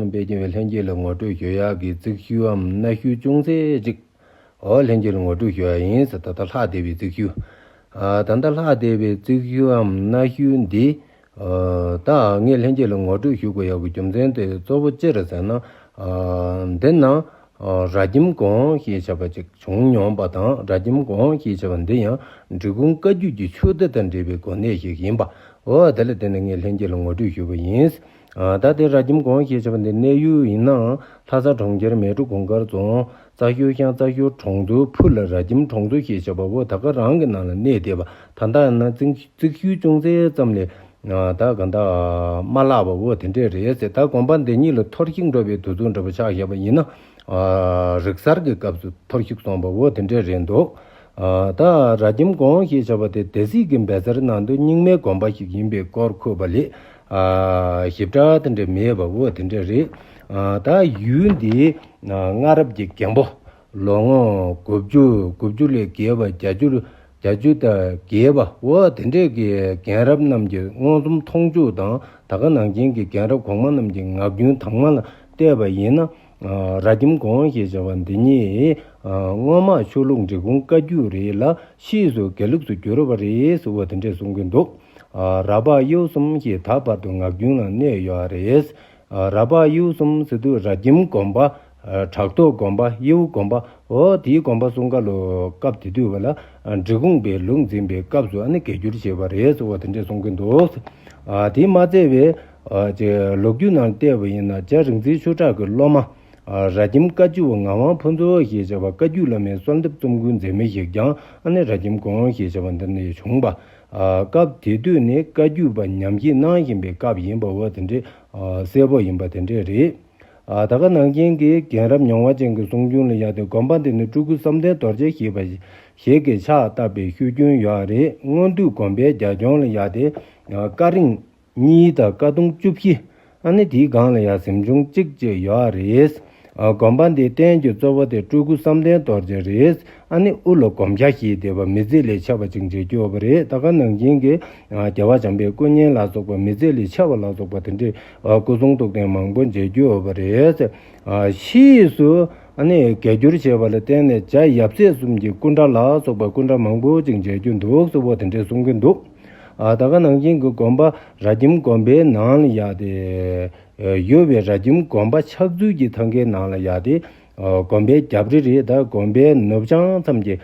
དཔལ་རྒྱལ་བས་ལྷན་སྐྱེས་ལ་ངོ་སྤྲོད་ཞུ་ཡག་གི་རྩིག་ཤུལ་འམ་གནའ་ཤུལ་ཅུང་ཟད་ཅིག་འོ་ལྷན་སྐྱེས་ལ་ངོ་སྤྲོད་ཞུ་ཡག་ཡིན་ཟེར་ད་ལྟ་ལྷག་བསྡད་པའི་རྩིག་ཤུལ། ད་ལྟ་ལྷག་བསྡད་པའི་རྩིག་ཤུལ་འམ་གནའ་ཤུལ་འདི་དག་ངས་ལྷན་སྐྱེས་ལ་ངོ་སྤྲོད་ཞུ་དགོས་ཡག་གི་རྒྱུ་མཚན་དེ་གཙོ་བོ་ཅི་རེད་ཟེར་ན། འདི་ན་རྭ་ཁྱིམ་གོང་ཞེས་བྱ་བ་ཅིག་བྱུང་མྱོང་པ་དང་རྭ་ཁྱིམ་གོང་ཞེས་བྱ་བ་འདི་ཡང་འབྲི་གུང་བཀའ་བརྒྱུད་ཀྱི་ཆོས་སྡེ་དང་འབྲེལ་བའི་གོ་གནས་ཞིག་ཡིན་པ་འོ་དེ་ལ་བརྟེན་ནས་ངས་ལྷན་སྐྱེས་ལ་ངོ་སྤྲོད་ཞུ་བ་ཡིན། ད་ལྟའི་རྭ་ཁྱིམ་གོང་ཞེས་བྱ་བ་འདི་གནས་ཡུལ་ཡིན་ནའང་ལྷ་ས་གྲོང་ཁྱེར་མལ་གྲོ་གུང་དཀར་རྫོང་རྩ་ཞོལ་ཤང་རྩ་ཞོལ་གྲོང་དུ་ཕུ་ལ་རྭ་ཁྱིམ་གྲོང་ཚོ་ཞེས་བྱ་བ་བོ་ད་ག་རང་གི་ནང་ལ་གནས་བསྡད་པ་ད་ལྟ་ཡང་ན་རྩིག་ཤུལ་ཅུང་ཟད་ཙམ་ལས་ད་ག་འདའ་མ་ལགས་པ་བོ་དེ་འདྲས་རེད་ཟེར་ད་དགོན་པ་འདི་གཉིས་ལ་ཐོར་བཤིག་འགྲོ་བའི་དུས་ཚོད་འདྲ་པོ་ཆགས་བཞག་པ་ཡིན་ན་རིག་གསར་གྱི་སྐབས་སུ་ཐོར་བཤིག་སོང་བ་བོ་དེ་འདྲས་རེད་འདུག་ད་རྭ་ཁྱིམ་གོང་ཞེས་བྱ་བ་དེ་སྡེ་སྲིད་ཀྱི་འབད་རྩར་ནང་དུ་རྙིང་མའི་དགོན་པ་ཞིག་ཡིན་པའི་སྐོར་འཁོད་པ་ལས་ཞིབ་ཕྲ་དེ་འདྲ་མེད་པ་བོ་དེ་འདྲ་རེད། ད་ཡུལ་འདིའི་སྔ་རབས་ཀྱི་རྒན་པོ་ལོ་ངོ་དགུ་བཅུ་དགུ་བཅུ་ལས་བརྒལ་བ་བརྒྱ་བཅུ་བརྒྱ་བཅུ་དང་བརྒལ་བ་བོ་དེ་འདྲས་ཀྱི་རྒན་རབས་རྣམས་ཀྱི་མངོན་སུམ་མཐོང་འཇུག་དང་ད་ག་ནང་བྱན་གྱི་རྒན་རབས་གོང་མ་རྣམས་ཀྱི་ངག་རྒྱུན་དྭངས་མ་ལ་བལྟས་པ་ཡིན་ན། རྭ་ཁྱིམ་དགོན་ཞེས་བྱ་བ་འདི་ཉིད་སྔོན་མ་ཆོས་ལུགས་འབྲི་གུང་བཀའ་བརྒྱུད་རེད་ལ་ཕྱིས་སུ་དགེ་ལུགས་སུ་བསྒྱུར་བ་རེད་བོ་དེ་འདྲས་གསུང་གིན་འདུག། ར་བག་གཡུ་གསུམ་ཞེས་ད་བར་དུ་ངག་རྒྱུན་ལ་གནས་ཡོད་ཨ་རེད། ར་བག་གཡུ་གསུམ་ཟེར་དུས་ར་ཁྱིམ་དགོན་པ། བྲག་ཐོག་དགོན་པ་གཡེའུ་དགོན་པ་འོ་དེའི་དགོན་པ་གསུམ་ཀ་ལོ་སྐབས་དེ་དུས་བ་ལ་འབྲི་གུང་པའི་ལུགས་འཛིན་པའི་སྐབས་སུ་ཨ་ནི་གས་འགྱུར་བྱས་བ་རེད་ཟེར་བ་དེ་འདྲས་གསུང་གིན་འདུག། དེ་མ་ཚད་བས། ལོ་རྒྱུས་ནང་བལྟས་བ་ཡིན་ན་རྗ་རིག་འཛིན་ཆོས་གྲགས་ཀྱི་སློབ་མ། ར་ཁྱིམ་བཀའ་བརྒྱུད་བ་ངག་དབང་ཕུན་ཚོགས་ཞེས་བྱ་བ་བཀའ་བརྒྱུད་བླ་མའི་གསོལ་འདེབས་རྩོམ་ཀུན་མཛད་མི་ཞིག་ཀྱང་ཨ་ནི་ར་ཁྱིམ་དགོན་ཞེས་བྱ་བ་འདི་ནས་བྱུང་བ་སྐབས་དེ་དུས་ནི་བཀའ་བརྒྱུད་པ་ཉམས་ཀྱིས་གནང་བཞིན་པའི་སྐབས་ཡིན་པ་བ་དེ་འདྲའི་གསལ་པོ་ཡིན་པ་དེ་འདྲས་རེད། ད་ག་ནང་བཞིན་གྱི་རྒན་རབས་མྱོང་བ་ཅན་གྱི་གསུང་རྒྱུན་ལ་ཡག་ཏེ་དགོན་པ་འདི་ནི་སྤྲུལ་སྐུ་བསམ་གཏན་རྡོ་རྗེ་ཞེས་པ་ཞིག་གིས་ཕྱག་བཏབ་པའི་ཤུལ་རྒྱུན་ཡོད་རེད་སྔོན་དུས་དགོན་པའི་རྒྱ་ཁྱོན་ལ་ཡག་སྟེ་སྐ་རིང། གཉིས་དང་དཀའ་གདུང་བཅུ་བཞི། ཨ་ནི་དེའི་སྒང་ལ་ཡང་གཟིམ་ཆུང་གཅིག་ཅིག་ཡོད་ཨ་རེད། དགོན་པ་འདིའི་རྟེན་གྱི་གཙོ་བོ་དེ་སྤྲུལ་སྐུ་བསམ་གཏན་རྡོ་རྗེ་རེད། ཨ་ནི་དབུ་ལ་གོམ་ཁྱ་ཞིག་དེ་བ་མི་རྫི་ལས་ཆེ་བ་ཅིག་མཇལ་རྒྱུ་ཡོད་པ་རེད་ད་ག་ནང་བྱིངས་ཀྱི་རྒྱལ་བ་བྱམས་པའི་སྐུ་བརྙན་ལ་སོགས་པ་མི་རྫི་ལས་ཆེ་བ་ལ་སོགས་པ་དེ་འདྲའི་སྐུ་གསུང་ཐུགས་རྟེན་མང་པོ་མཇལ་རྒྱུ་ཡོད་པ་རེད། ཕྱིས་སུ་ཨ་ནི་བརྒལ་བསྒྱུར་བྱས་པ་ལ་བརྟེན་ནས་རྒྱ་ཡབ་སྲས་གསུམ་གྱི་སྐུ་འདྲ་ལ་སོགས་པ་སྐུ་འདྲ་མང་པོ་ཅིག་མཇལ་རྒྱུ་འདུག་གསོལ་བ་དེ་འདྲས་གསུང་གིན་འདུག། ད་ག་ནང་བཞིན་གྱི་དགོན་པ་རྭ་ཁྱིམ་དགོན་པའི་ནང་ལ་ཡག་སྟེ། ཡོད་པའི་རྭ་ཁྱིམ་དགོན་པ་ཕྱག་ཚུལ་གྱི་ཐང་ཁའི་ནང་ལ་ཡག་སྟེ། དགོན་པའི་རྒྱབ་རི་རེད་ད་དགོན་པའི་ནུབ་བྱང་མཚམས་ཀྱི་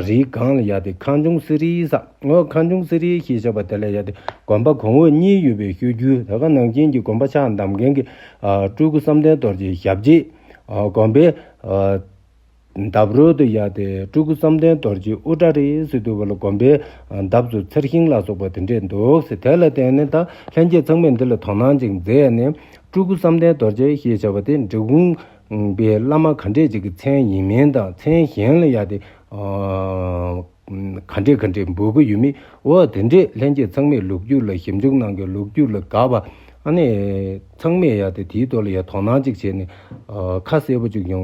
རིའི་སྒང་ལ་ཡག་སྟེ་ཁང་ཆུང་གསེར་རིའི་ས་ངོས་ཁང་ཆུང་གསེར་རི་ཞེས་བྱ་བ་དེ་ལ་ཡག་སྟེ་དགོན་པ་གོང་འོག་གཉིས་ཡོད་པའི་ཤོད་རྒྱུ་ད་ག་ནང་བཞིན་གྱི་དགོན་པ་ཕྱག་འདམ་མཁན་གྱི་སྤྲུལ་སྐུ་བསམ་གཏན་རྡོར་གྱི་ཞབས་རྗེས་དགོན་པའི་འདབ་རོལ་དུ་གཡར་ཏེ་སྤྲུལ་སྐུ་བསམ་གཏན་རྡོ་རྗེའི་དབུ་སྐྲ་རིས་སུ་བསྡུ་བ་ལ་བསྒོམ་པའི་འདབ་ཏུ་ཚེར་ཤིང་ལ་སོགས་པ་དེ་འདྲས་འདུག་ཟེར་དེ་ལ་བརྟེན་ནས་ད་ལྷན་རྒྱས་ཚང་མས་འདི་ལ་དོ་སྣང་ཅིག་མཛད་ནས་སྤྲུལ་སྐུ་བསམ་གཏན་རྡོ་རྗེ་ཞེས་བྱ་བ་དེ་འབྲི་གུང་པའི་བླ་མ་ག་འདྲས་ཅིག་གི་མཚན་ཡིན་མིན་དང་མཚན་གཞན་ལ་གཡར་ཏེ་ག་འདྲས་ག་འདྲས་འབུལ་གྱི་ཡོད་མེད་འོ་དེ་འདྲས་ལྷན་རྒྱས་ཚང་མས་ལུགས་རྒྱུད་ལ་ཞིབ་འཇུག་གནང་གིན་ལུགས་རྒྱུད་ལ་དགའ་བ་ཨ་ནས་ཚང་མས་གཡར་ཏེ་དེའི་ཐོག་ལ་ཡང་དོ་སྣང་ཅིག་བྱས་ནས་ཁ་གསལ་པོ་ཅིག་ཡོང་བའི།